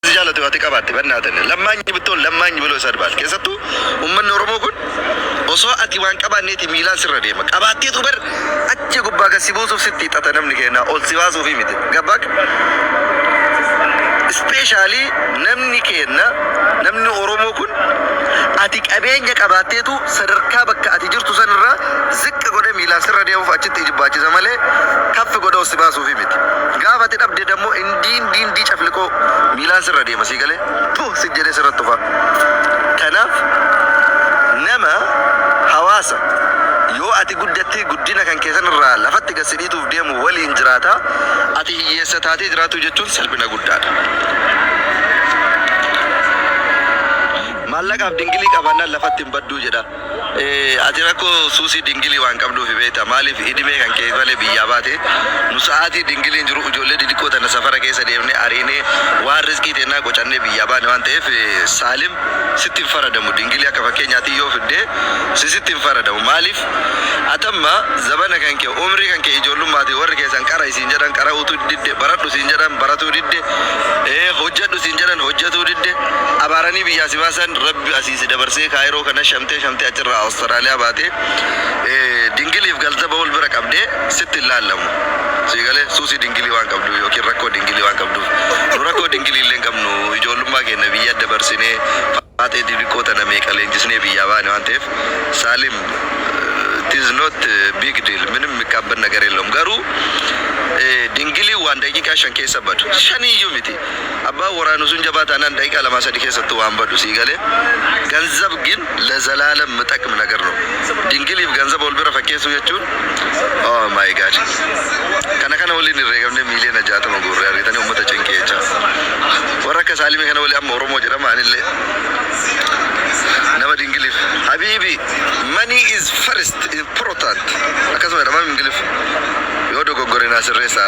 si jaalatu ati qabaatte bannaatani lammaanyi bittoon lammaanyi biloo isa adbaal keessattuu ummanni oromoo kun osoo ati waan qabaanneeti miilaan sirra deema qabaatteetu bar achi gubbaa gad si buusuuf sitti hixata namni keenyaa ol si baasuufi miti gabbaak ispeeshaalii namni keenna namni oromoo kun ati qabeenya qabaatteetu sadarkaa bakka ati jirtu sanirraa ziqqa godhe miilaan sirra deemuuf achitti ijibbaachiisa malee kaffi godhe ol si baasuufi miti gaafa ati dhabde dammoo inni Diin diin dii cafliqoo miilaan sirra deema sii galee puh sit jedhee sirra tufa kanaaf nama hawaasa yoo ati guddattee guddina kan kee sanirraa lafatti gad si dhiituuf deemu waliin jiraata ati hiyyeessa taatee jiraatuu jechuun salphina guddaadha maallaqaaf dingilii qabaannaan lafatti hin badduu jedha. Ati rakko suusii dingilii waan qabduufi beekta maaliif idimee kan keef malee biyyaa baate nu sa'aatii dingiliin jiru ijoollee didiqqoo tana safara keessa deemnee ariinee waan rizqii teennaa qocannee biyyaa baane waan ta'eef saalim sitti hin faradamu dingilii akka fakkeenyaatii yoo fidde si sitti hin faradamu maaliif atamma zabana kan kee umrii kan kee ijoollummaatii warri keessan qara'i siin jedhan qara'uutu didde baradhu siin jedhan baratuu didde hojjadhu siin jedhan hojjatuu didde abaaranii biyyaa si baasan rabbi asi si dabarsee Kaayiroo kana shamtee shamtee achirraa Awustaraaliyaa baatee dingiliif galtaba wal bira qabdee sitti hin laallamu. Sii galee? Suusii dingilii waan qabduuf yookiin rakkoo dingilii waan qabduuf. Nu rakkoo dingilii illee hin qabnu. Ijoollummaa keenna biyya dabarsinee faaxee didiqqoo tana meeqa leenjisnee biyyaa baane waan ta'eef Saalim it is not big deal minim mikkaabbat nagar yellawum garuu dingiliin waan daqiiqaa shan keessa badu. Shaniyyuu miti. Abbaan waraanu sun jabaa taanaan daqiiqaa lamaa sadii keessattuu waan badu sii gale. Ganzab gin lezalaalem mitakm nager no. Dingiliif ganzaba wal bira fakkeessuu jechuun oh my God. Kana kana waliin irreegamnee miiliyoona 60 guurre argitanii ummata cinqii jechaa. Warra akka Saalimii kana waliin amma Oromoo jedhama anillee nama dingiliif habiibii money is first important akkasuma jedhama mingiliff. Yoo dogoggore naa sirreessaa.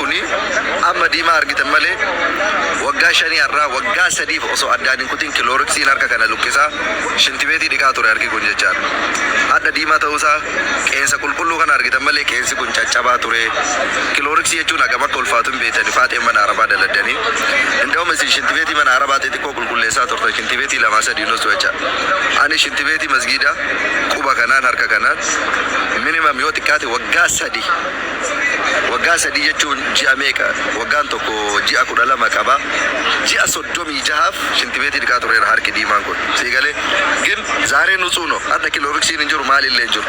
Kuni amma diimaa argitan malee waggaa shanii har'aa waggaa sadiif osoo addaan hin kutin kilooriksiin harka kana luqqisaa shintibeetii dhiqaa ture harki kun jechaadha. Hadha diimaa ta'uu isaa qeensa qulqulluu kana argitan malee qeensi kun caccabaa ture. Kilooriksii jechuun hagam akka ulfaatu hin beektani faaxeen mana arabaa daladdani. Inda'um isin shintibeetii mana arabaa xixiqqoo qulqulleessaa turtan shintibeetii lamaa sadii hin ussu jechaadha. Ani shintibeetii masgiidaa quba kanaan harka kanaan minimum yoo xiqqaate waggaa sadi Waggaa sadii jechuun ji'a meeqa? Waggaan tokko ji'a 12 qaba. Ji'a 36f shintibeetii dhiqaa tureera harki diimaan kun. Sii galee? Gin zaaree nutsuh noh. Hadha kilooriksiin hin jiru, maali illee hin jiru.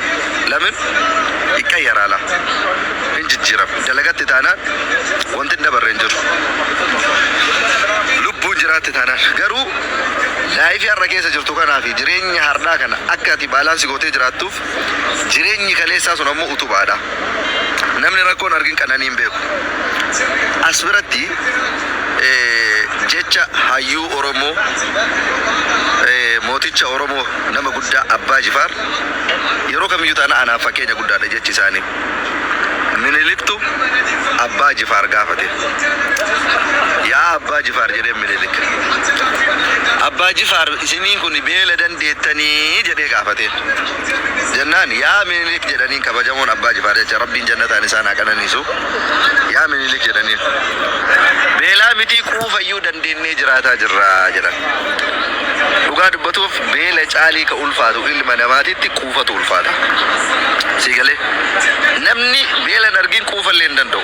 Lamin? Iqqayyaraa lah. Hin jijjiirama. Dalagatti taanaan wanti hin dabarre hin jiru. Lubbuun jiraatti taanaan. Garuu laayifii har'a keessa jirtu kanaa fi jireenya hardhaa kana akka ati baalaansi gootee jiraattuuf Jireenyi kaleessaa sun ammoo utubaadha. Namni rakkoo hin argin qananii hin beeku. As biratti jecha hayyuu Oromoo, mooticha Oromoo nama guddaa Abbaa Jifaar yeroo kamiyyuu taanaan anaaf fakkeenya guddaadha jechi isaanii. Miniliktu Abbaa Jifaar gaafate. Yaa Abbaa Jifaar jedheen Minilik. Abbaa Jifaar isiniin kun beeladan deettanii? jedhee gaafateen. Jennaan yaa Minilik jedhaniin kabajamoon Abbaa Jifaar jecha Rabbiin jannataan isaan haa qananiisu. Yaa Minilik jedhaniin. Beelaa mitii quufayyuu dandeennee jiraataa jirra jedhan. Dhugaa dubbatuuf beela caalii ka ulfaatu ilma namaatitti quufatu ulfaata. Sii galee? Namni beela hin argin quufallee hin danda'u.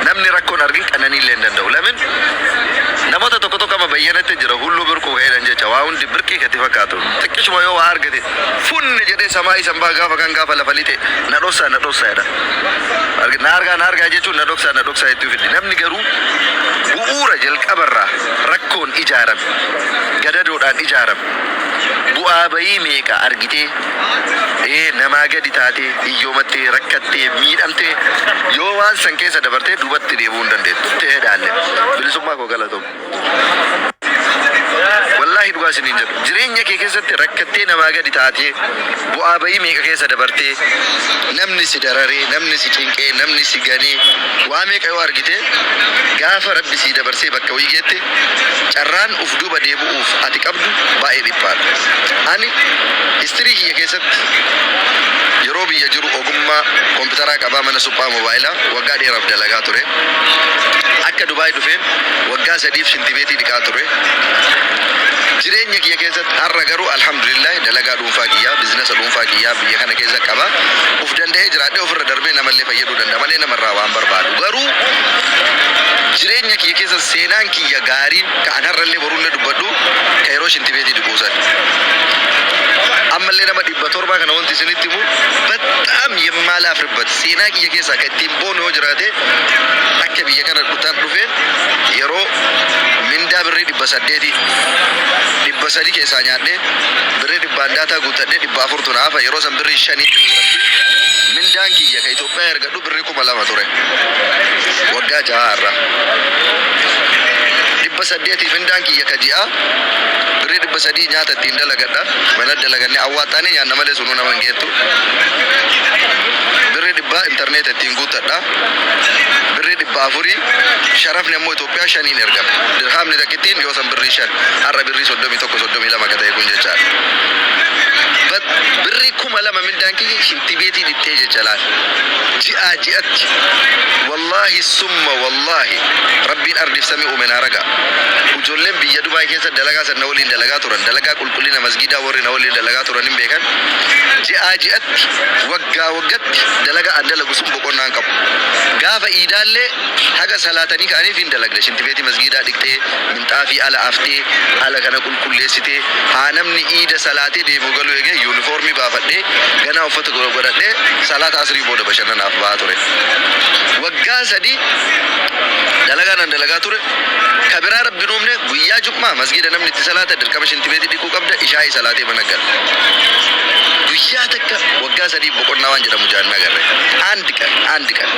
Namni rakkoo hin argin qananiillee hin danda'u. Lamin namoota tokko tokko amma bayyanatti jira hulluu birquu ka jedhan jecha waa hundi birqii katti fakkaatu. Xiqqishuma yoo waa argate funni jedhee samaa isan baha gaafa kaan gaafa lafa lixe na dhossaa na dhossaa jedha. Argi- Na argaa na argaa jechuun na dhoksaa na dhoksaa jettuu fiddi. Namni garuu bu'uura jalqabarraa Rakkoon ijaarame, gadadoodhaan ijaarame, bu'aa ba'ii meeqa argitee, ee, namaa gadi taatee, hiyyoomattee, rakkattee, miidhamtee, yoo waan san keessa dabartee dubatti deebi'uu hin dandeettu. Tehe dhaalle. Bilisummaa koo galatomi. Wallaahi dhugaa isiniin jedha. Jireenya kee keessatti rakkattee namaa gadi taatee. Bu'aa ba'ii meeqa keessa dabartee, namni si dararee, namni si cinqee, namni si ganee, waa meeqa yoo argitee, gaafa Rabbi sii dabarsee bakka wayii geette, carraan uf duuba deebu'uuf ati qabdu baay'ee dhiphaadha. Ani history kiyya keessatti yeroo biyya jiru ogummaa kompitaraa qabaa mana suphaa mobaayilaa waggaa dheeraaf dalagaa ture. Akka Dubai dhufeen waggaa sadiif shintibeetii dhiqaa ture. Jireenya kiyya keessatti. Har'a garuu Alhamdulillah dalagaa dhuunfaa kiyyaa, bizinasa dhuunfaa kiyyaa biyya kana keessa qaba. Uf danda'ee jiraadhee ofirra darbee namallee fayyaduu danda'a malee nama irraa waan barbaadu garuu jireenya kiyya keessa seenaan kiyya gaariin ka an har'allee borullee dubbadhu ka yeroo shintibeetii dhiquu san. Ammallee nama 700 kana wanti isinitti himu baxxaam yemmaalaafribbat seenaa kiyya keessaa ka ittiin boonu yoo jiraate akka biyya kana dhutaan dhufeen yeroo mindaa birrii 800 300 keessaa nyaadhee birrii dhibbaan daataa guuttadhee 400 tu na hafa yeroo san birrii shanii birrii rabbii mindaan kiyya ka Itoophiyaa ergadhu birrii 2000 ture waggaa jahaa har'a 800 mindaan kiyya ka ji'aa birrii 300 nyaata ittiin dalagadha mana dalagannee awwaaxxaanee nyaanna malee sunuu nama hin geettu birrii dhibbaa intarneeta ittiin guuttadha birrii 400 sharafni ammoo Waggaa shaniin ergama. Dirhaamni takkittiin yoo san birrii shan, har'a birrii soddomii tokko, soddomii lama ka ta'e kun jechaadha. But birrii kuma lama mindaan kiyya shinti beetii dhittee jecha laal. Ji'aa ji'atti. Wallaahi summa wallaahi Rabbiin ardiif samii uume naa raga'a. Ujoolleen biyya Dubai keessa dalagaa san na waliin dalagaa turan, dalagaa qulqullina masgiidaa worri na waliin dalagaa turan hin beekan. Ji'aa ji'atti, waggaa waggatti dalagaa an dalagu sun boqonnaa hin qabu. Gaafa iidaallee. Haga salaatanii ka'aniif hin dalagda. Shintibeetii masgiidaa dhiqxee, minxaafii ala aftee, ala kana qulqulleessitee, haa namni iida salaatee deebi'u galu eegee yuunifoormii baafadhee, ganaa uffata godhadhee salaata asrii booda bashannanaaf baha ture. Waggaa sadii dalagaa nan dalagaa ture. Ka biraa Rabbi hin uumne, guyyaa jum'aa masgiida namni itti salaata dirqama shintibeetii dhiquu qabda, ishaa'ii salaatee mana gala. Guyyaa takka waggaa sadiif boqonnaa waan jedhamu jaannaa garre. And qan, and qan.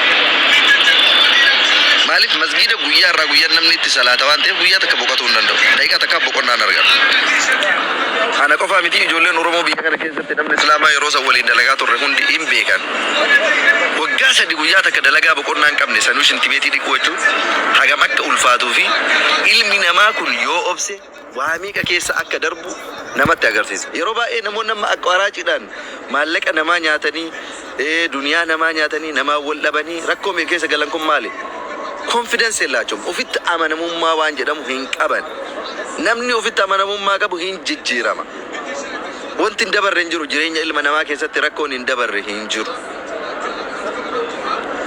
Maaliif masgiida guyyaa irraa guyyaan namni itti salaata waan ta'eef guyyaa takka boqatuu hin danda'u. Daqiiqaa takkaaf boqonnaa hin argatu. Kana qofaa miti ijoolleen Oromoo biyya kana keessatti namni Islaamaa yeroo san waliin dalagaa turre hundi hin beekan. Waggaa sadi guyyaa takka dalagaa boqonnaa hin qabne sanuu shintibeetii dhiquu jechuun hagam akka ulfaatuu fi ilmi namaa kun yoo obse waa meeqa keessa akka darbu namatti agarsiisa. Yeroo baay'ee namoonni amma aqwaraaciidhaan maallaqa namaa nyaatanii, duniyaa namaa nyaatanii, namaan wal dhabanii rakkoo meeqa keessa galan kun maali? Confidence yellaachom, ofitti amanamummaa waan jedhamu hin qaban. Namni ofitti amanamummaa qabu hin jijjiirama. Wanti hin dabarre hin jiru, jireenya ilma namaa keessatti rakkoon hin dabarre hin jiru.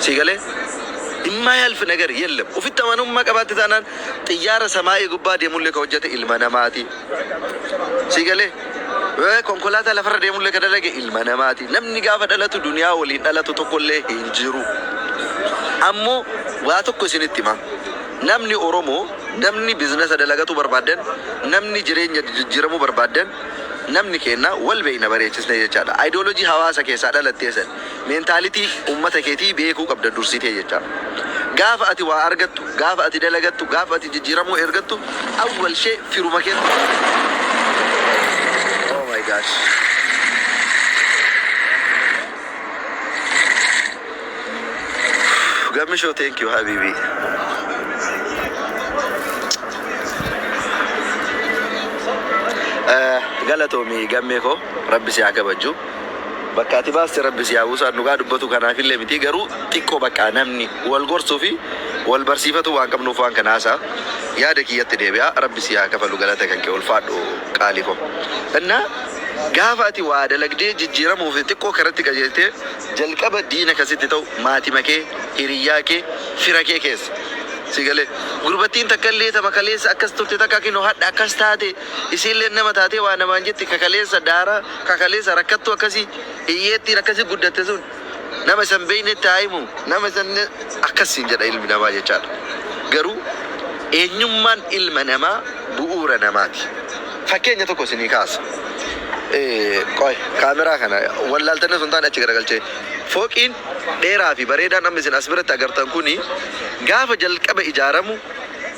Sii galee? Immaayalf nagar yellam. Ofitti amanummaa qabaatte taanaan Xiyyaara samaa'ii gubbaa deemullee ka hojjate ilma namaati. Sii galee? Ee, konkolaataa lafarra deemullee ka dalage ilma namaati. Namni gaafa dhalatu duniyaa waliin dhalatu tokkollee hin jiru. Ammo waa tokko isinitti hima. Namni Oromoo, namni biznesa dalagatuu barbaaddan, namni jireenya jijjiiramuu barbaaddan, namni keenna wal beeyna bareechisnee jechaadha. Ideology hawaasa keessaa dhalattee san. Mentality ummata keetii beekuu qabda dursitee jechaa. Gaafa ati waa argattu, gaafa ati dalagattu, gaafa ati jijjiiramuu ergattu awwal shee firuma keetu si jijjiira. Oh my gosh. Gammisho thank you habiibii. Eh, Galatoomi gammee koo rabbi si haa kabajju. Bakka ati baaste rabbi si haa buusaat dhugaa dubbatuu kanaafillee mitii garuu xiqqoo baqqaa namni wal gorsuu fi wal barsiifatuu waan qabnuuf waan kana haasa'a yaada kiyyatti deebi'a rabbi sii haa kafalu galata kan kee ulfaadhu qaalii koo inna gaafa ati waa dalagdee jijjiiramuu fi xiqqoo karatti qajeeltee jalqaba diina kan sitti ta'u maatima kee hiriyyaa kee fira kee keessa sii galee gurbattiin takkallee tama kaleessa akkas turte takka kinoo hadha akkas taate Isiinleen nama taatee waa namaan jetti ka kaleessa daaraa, ka kaleessa rakkattuu akkasii, hiyyeettiin akkasii guddatte sun nama isa hin beeynetti haa himu. Nama isa hin Akkas siin jedha ilmi namaa jechaa dha. Garuu eenyummaan ilma namaa bu'uura namaati. Fakkeenya tokko isinii kaasa. Qoy kaameraa kana wallaaltanii osoo hin taane achi garagalchee. Fooqiin dheeraa fi bareedaan amma isin as biratti agartan kuni gaafa jalqaba ijaaramu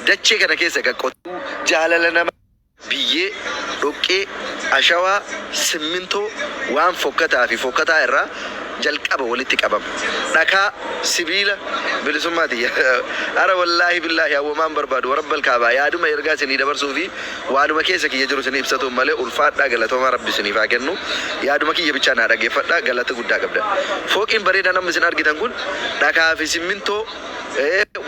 dachee kana keessa egaa qotee. Garuu jaalala nama biyyee, dhoqqee, ashawaa, simmintoo, waan fokkataa fi fokkataa irraa jalqaba walitti qabama. Dhakaa, sibiila, bilisummaa tiyya. Ara wallaahi billaahi an womaan barbaadu warabbal kaabaa yaaduma ergaa isinii dabarsuu fi waanuma keessa kiyya jiru isinii ibsatuun malee ulfaadhaa galatoomaa rabbi isiniif haa kennu yaaduma kiyya bichaa naa dhaggeeffadhaa galata guddaa qabdan. Fooqiin bareedaan amma isin argitan kun dhakaa fi simmintoo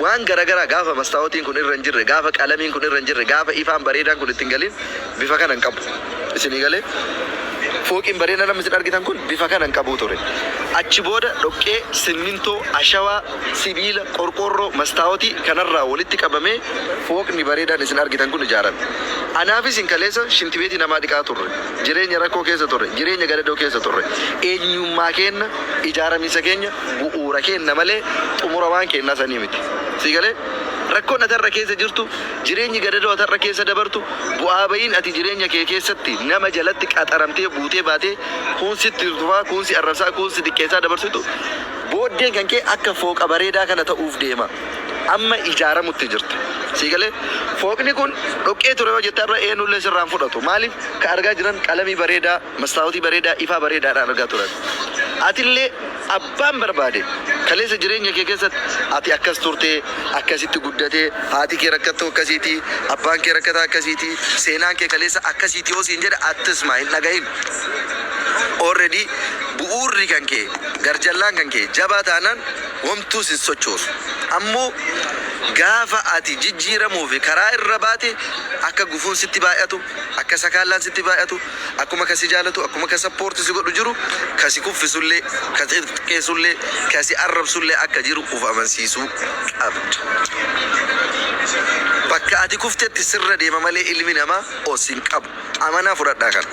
Waan garagaraa gaafa mastaawotiin kun irra hin jirre, gaafa qalamiin kun irra hin jirre, gaafa ifaan bareedaan kun itti hin galin bifa kana hin qabu. Isinii galee? Fooqiin bareedaan amma isin argitan kun bifa kana hin qabu ture. Achi booda dhoqqee, simmintoo, ashawaa, sibiila, qorqoorroo, mastaawotii kanarraa walitti qabamee fooqni bareedaan isin argitan kun ijaarame. Anaa fi isin kaleessa shintibeetii namaa dhiqaa turre. Jireenya rakkoo keessa turre. Jireenya gadadoo keessa turre. Eenyummaa keenna, ijaaramiinsa keenya, bu'uura keenna malee xumura waan keennaa sanii miti. Sii galee? Rakkoon ati har'a keessa jirtu, jireenyi gadadoo ati har'a keessa dabartu, bu'aa bayiin ati jireenya kee keessatti nama jalatti qaxaramtee buutee baatee kuun sitti tufaa, kuun si arrabsaa, kuun si xiqqeessaa dabarsitu booddeen kan kee akka fooqa bareedaa kana ta'uuf deema. Amma ijaaramutti jirta. Sii galee? Fooqni kun dhoqqee ture yoo jette har'a eenullee sirraa hin fudhatu. Maaliif? Ka argaa jiran qalamii bareedaa, mastaawotii bareedaa ifaa bareedaadhaan argaa turan. Atillee abbaan barbaade kaleessa jireenya kee keessatti ati akkas turte, akkasitti guddate, haati kee rakkattuu akkasiiti, abbaan kee rakkataa akkasiiti, seenaan kee kaleessa akkasiiti yoo siin jedhe attsma hin dhagahin. Already bu'uurri kan kee, garjallaan kan kee jabaa taanaan homtuu sin sochoosu. Ammoo gaafa ati jijjiiramuu fi karaa irra baate akka gufuun sitti baay'atu, Akka sakaallaan sitti baay'atu, akkuma ka si jaalatu, akkuma ka support si godhu jiru, ka si kuffisullee, ka si xiqqeessullee, ka si arrabsullee akka jiru uf amansiisuu qabda. Bakka ati kuftetti sirra deema malee ilmi namaa ol sin qabu. Amanaa fudhadhaa kana.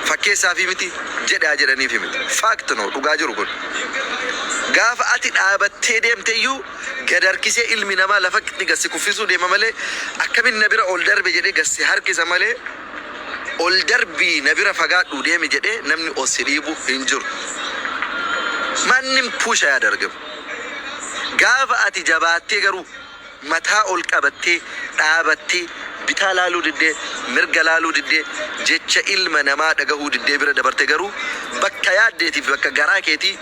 Fakkeessaafi miti, jedhe haa jedhaniifi miti. Fact no, dhugaa jiru kun. Gaafa ati dhaabattee deemteyyuu, Gad harkisee ilmi namaa lafatti gad si kuffisuu deema malee akkamitti na bira ol darbe jedhee gad si harkisa malee ol darbii na bira fagaadhuu deemi jedhee namni ol si dhiibu hin jiru. Maannim puusha yaadargam. Gaafa ati jabaattee garuu mataa ol qabattee dhaabattee bitaa laaluu diddee mirga laaluu diddee jecha ilma namaa dhagahuu diddee bira dabarte garuu bakka yaaddeetii fi bakka garaa keetii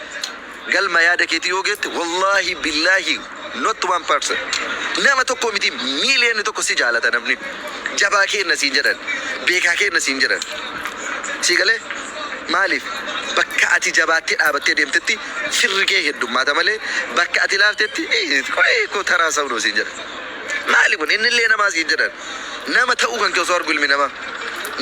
Galma yaada keetii yoo geette wallahi billahi not one person nama tokko miti million tokko si jaalata namni jabaa keenna siin jedhan beekaa keenna siin jedhan sii galee maaliif bakka ati jabaattee dhaabattee deemtetti firri kee heddummaata malee bakka ati laaftetti iih qoyii koo taraa saunoo siin jedhan maali kun innillee namaa siin jedhan Nama ta'uu kan kee osoo argu ilmi namaa.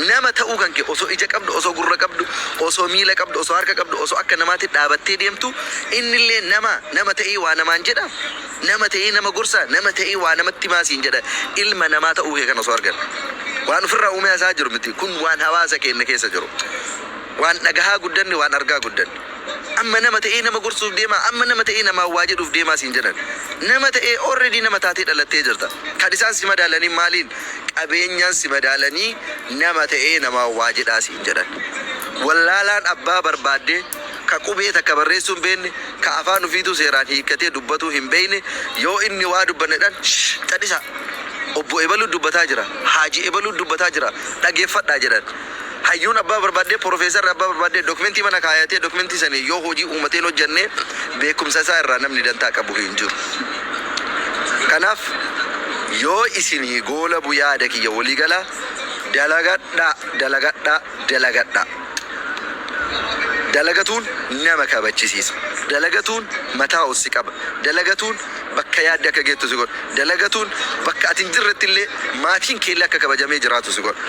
Nama ta'uu kan kee osoo ija qabdu, osoo gurra qabdu, osoo miila qabdu, osoo harka qabdu, osoo akka namaatti dhaabattee deemtu innillee namaa? Nama ta'ee waa namaan jedhaa? Nama ta'ee nama gorsaa? Nama ta'ee waa namatti himaa siin jedhaa? Ilma namaa ta'uu kee kana osoo argan. Waan ofirraa uumee haasa'aa jiru miti. Kun waan hawaasa keenya keessa jiru. Waan dhagahaa guddanne, waan argaa guddanne. Amma nama ta'ee nama gorsuuf deemaa, amma nama ta'ee namaan waa jedhuuf deemaa siin jedhan. Nama ta'ee already nama taatee dhalattee jirta. Kan isaan si madaalaniin maaliin? Qabeenyaan si madaalanii nama ta'ee namaan waa jedhaa siin jedhan. Wallaalaan abbaa barbaadde, ka qubee takka barreessuu hin beekne, ka afaan ufiituu seeraan hiikkatee dubbatuu hin beekne, yoo inni waa dubbanne jedhan, shh! Cadhisaa! Obbo ebaluun dubbataa jira, haaji ebaluun dubbataa jira, dhageeffadhaa jedhan. Hayyuun abbaa barbaadde, porofeesarri abbaa barbaadde dokimentii mana kaayatee dokimentii saniin yoo hojii uumatee hin hojjanne beekumsa isaa irraa namni dantaa qabu hin jiru. Kanaaf yoo isinii goolabu yaada kiyya walii galaa dalagadhaa dalagadhaa dalagadhaa. Dalagatuun nama kabachisiisa. Dalagatuun mataa ol si qaba. Dalagatuun bakka yaadde akka geettu si godha. Dalagatuun bakka ati hin jirretti illee maatiin kee illee akka kabajamee jiraatu si godha.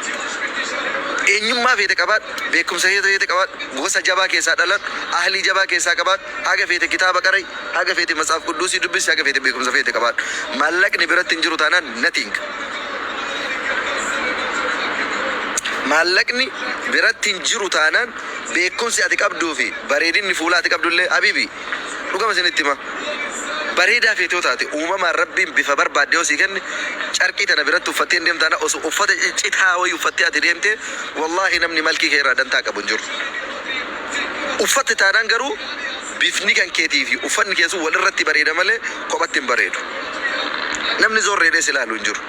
Eenyummaa feete qabaadhu, beekumsa feete qabaadhu, gosa jabaa keessaa dhaladhu, ahlii jabaa keessaa qabaadhu, haga feete kitaaba qara'i, haga feete Matshaaf Qudduusii dubbisi, haga feete beekumsa feete qabaadhu. Maallaqni biratti hin jiru taanaan nothing. Maallaqni biratti hin jiru taanaan beekumsi ati qabduu fi bareedinni fuulaa ati qabdu illee habiibii. Dhugama isinitti hima, bareedaa feete yoo taate, uumamaan Rabbiin bifa barbaadde yoo sii kenne, carqii tana biratti uffattee hin deemtu, tana osoo uffata ciccitaa wayii uffattee ati deemtee, wallaahi namni malkii kee irraa dantaa qabu hin jiru. Uffatte taanaan garuu, bifni kan keetii fi uffanni kee sun wal irratti bareeda malee, kophatti hin bareedu. Namni zoorreedhee si laalu hin jiru.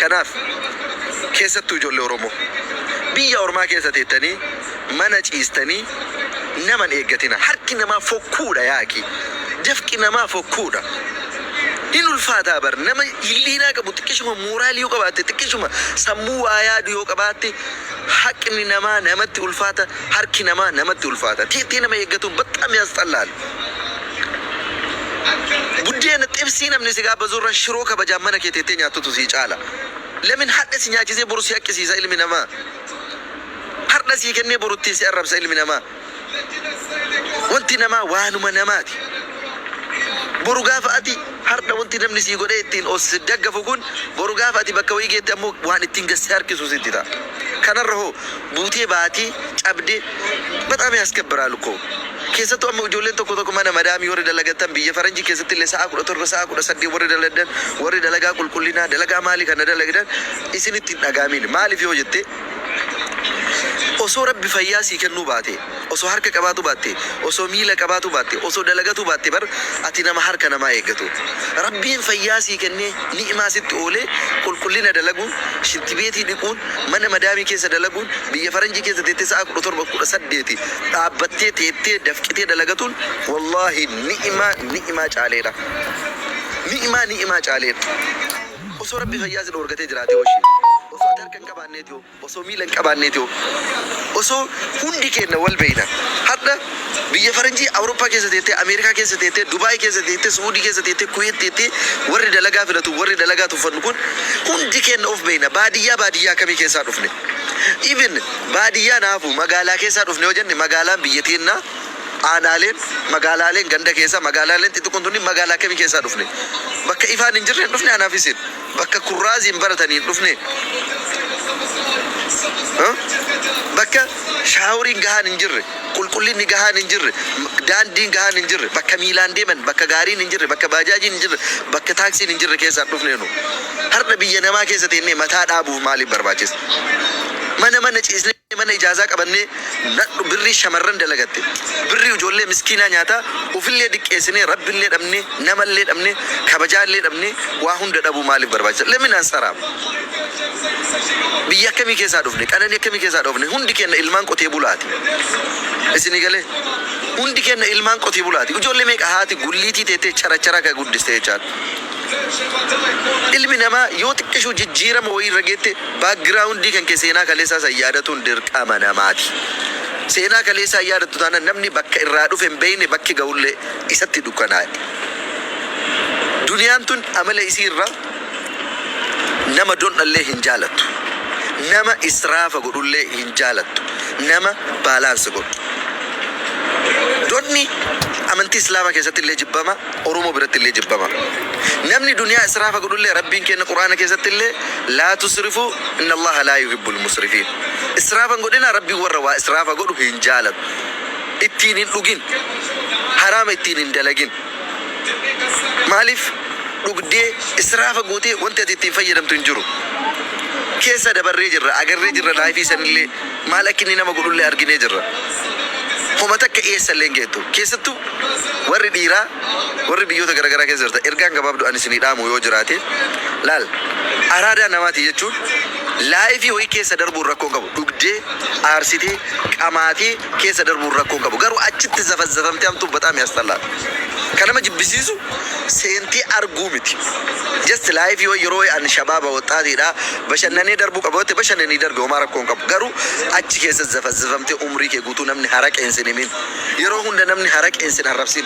Kanaaf keessattuu ijoollee Oromoo biyya ormaa keessa teettanii mana ciistanii nama hin eeggatinaa. Harki namaa fokkuudha yaaki. Dafqi namaa fokkuudha. Hin ulfaataa bar nama hilliinaa qabu xiqqishuma mooraalii yoo qabaatte xiqqishuma sammuu waa yaadu yoo qabaatte haqni namaa namatti ulfaata. Harki namaa namatti ulfaata. Xiixxii nama eeggatuun baxxaam yaasxallaal. Buddeena, xibsii namni si gaabbazu irra shiroo kabajaan mana kee teettee nyaattutu sii caala. Lamin hadha si nyaachisee boru si haqqisiisa ilmi namaa. Hardha sii kennee boru ittiin si arrabsa ilmi namaa. Wanti namaa waanuma namaati. Boru gaafa ati hardha wanti namni sii godhee ittiin of si daggafu kun boru gaafa ati bakka wayii geette ammoo waan ittiin gad si harkisu sitti ta'a. Kanarra hoo Guutee baatee cabdee bataam yaaskebiraal uko keessattuu amma ijoolleen tokko tokko mana madaamii warri dalagattan biyya faranjii keessatti illee sa'aa 17 sa'aa 18 warri daladdan warri dalagaa qulqullinaa dalagaa maalii kana dalagdan isinitti hin dhagaamiin maaliif yoo jettee osoo rabbi fayyaa sii kennuu baatee Osoo harka qabaatuu baattee, osoo miila qabaatuu baattee, osoo dalagatuu baattee bar ati nama harka namaa eeggatu. Rabbiin fayyaa sii kennee, ni'imaa sitti oolee qulqullina dalaguun, shintibeetii dhiquun, mana madaamii keessa dalaguun, biyya faranjii keessa teettee sa'aa 17, 18 dhaabbattee, teettee, dafqitee dalagatuun wallaahi ni'imaa ni'imaa caaleedha. Ni'imaa ni'imaa caaleedha. Osoo Rabbi fayyaa si dhoorgatee jiraatee hoshi. Osoo ati harka hin qabaanneeti hoo? Osoo miila hin qabaannee too. Osoo hundi keenna wal beeyna. Hardha biyya faranjii Awuroppaa keessa teettee, Ameerikaa keessa teettee, Dubai keessa teettee, Su'uudii keessa teettee, Kuwait teettee warri dalagaa filatu, warri dalagaa tuffannu kun hundi keenna of beeyna. Baadiyyaa baadiyyaa akkamii keessaa dhufne? Even baadiyyaan haa hafuu magaalaa keessaa dhufne yoo jenne magaalaan biyya teennaa, aanaaleen, magaalaaleen ganda keessaa, magaalaaleen xixiqqoon tunniin magaalaa akkamii keessaa dhufne? Bakka ifaan hin jirreen dhufne anaaf isin. Bakka kurraaziin baratanii hin dhufne? Bakka shaaworiin gahaan hin jirre, qulqullinni gahaan hin jirre, daandiin gahaan hin jirre, bakka miilaan deeman, bakka gaariin hin jirre, bakka baajaajiin hin jirre, bakka taaksiin hin jirre keessaa hin dhufne nu? Hardha biyya namaa keessa teennee mataa dhaabuuf maaliif barbaachise? Mana mana ciisnee. Mee mana ijaazaa qabannee nadhu birrii shamarran dalagatte birrii ijoollee miskiinaa nyaataa ufillee diqqeessinee rabbillee dhabnee namallee dhabnee kabajaallee dhabnee waa hunda dhabuu maaliif barbaachisa let me nan saraam biyya akkamii keessaa dhufne qananii akkamii keessaa dhoofne hundi keenna ilmaan qotee bulaati isinii galee hundi keenna ilmaan qotee bulaati ijoollee meeqa haati gulliitii teettee characharaa ka guddiste jechaadha ilmi namaa yoo xiqqishuu jijjiirama wayii irra geette Background kan kee seenaa kaleessaa san yaadatuun dirqama namaati. Seenaa kaleessaa hin yaadattu taanaan namni bakka irraa dhufe hin beeyne bakki gahullee isatti dukkanaa'e. Duniyaan tun amala isii irraa nama dondhallee hin jaalattu. Nama israafa godhullee hin jaalattu. Nama balance godhu. Dondhni amantii islaamaa keessattillee jibbamaa. Oromoo birattillee jibbama. Namni duniyaa israafa godhullee Rabbiin keenna Qur'aana keessattillee Laa tusrifuu innallaaha laa yuhibbul musrifiin. Israafa hin godhinaa Rabbiin warra waa israafa godhu hin jaalatu. Ittiin hin dhugin. Haraama ittiin hin dalagin. Maaliif dhugdee israafa gootee wanti ati ittiin fayyadamtu hin jiru. Keessa dabarree jirra, agarree jirra life sanillee. Maal akka inni nama godhullee arginee jirra. Homa takka eessallee hin geettu. Keessattuu warri dhiiraa warri biyyoota garagaraa keessa jirtan ergaan gabaabduu ani isinii dhaamu yoo jiraate laal araadaa namaati jechuun laayifii wayii keessa darbuun rakkoo hin qabu. Dhugdee, aarsitee, qamaatee keessa darbuun rakkoo hin qabu. Garuu achitti zafazzafamtee hamtuun baxaam yaastallaadha. Kan nama jibbisiisu seentee arguu miti. Just laayifii wayii yeroo wayii ani shabaaba, woxxaatiidha, Bashannanee darbuu qaba yoo ta'e bashannanii darbi homaa rakkoo hin qabu. Garuu achi keessa zafazzifamtee umrii kee guutuu namni haraqeen sin himin. Yeroo hunda namni haraqeen sin arrabsin.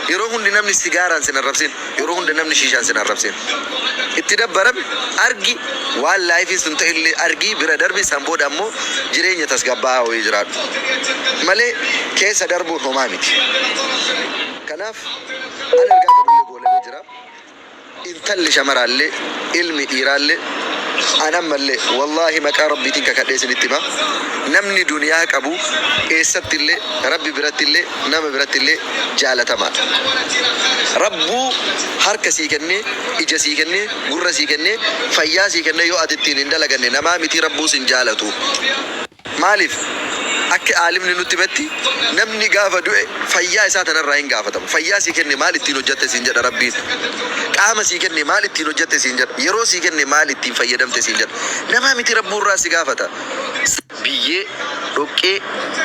Yeroo hundi namni sigaaraan sin arrabsin. Yeroo hunda namni shiishaan sin arrabsin. Itti dabbarami, argi, waan laayifiin sun ta'ellee argii bira darbi san booda ammoo jireenya tasgabbaa'aa wayii jiraadhu. Malee keessa darbuun homaa miti. Kanaaf an ergaa qabullee goolabee jira. intalli shamaraallee ilmi dhiiraallee an ammallee wallaahi maqaa rabbiitiin kakadhee isinitti hima namni duniyaa qabu eessattillee rabbi birattillee nama birattillee jaalatamaadha rabbuu harka sii kennee ija sii kennee gurra sii kennee fayyaa sii kennee yoo ati ittiin hin dalaganne namaa mitii rabbuu sin jaalatuu. Maaliif? Akki aalimni nutti himetti namni gaafa du'e fayyaa isaa tana irraa hin gaafatamu. Fayyaa sii kenne maal ittiin hojjatte siin jedha Rabbiin. Qaama sii kenne maal ittiin hojjatte siin jedha. Yeroo sii kenne maal ittiin fayyadamte siin jedha. Namaa miti Rabbuu irraa si gaafata. Biyyee, dhoqqee,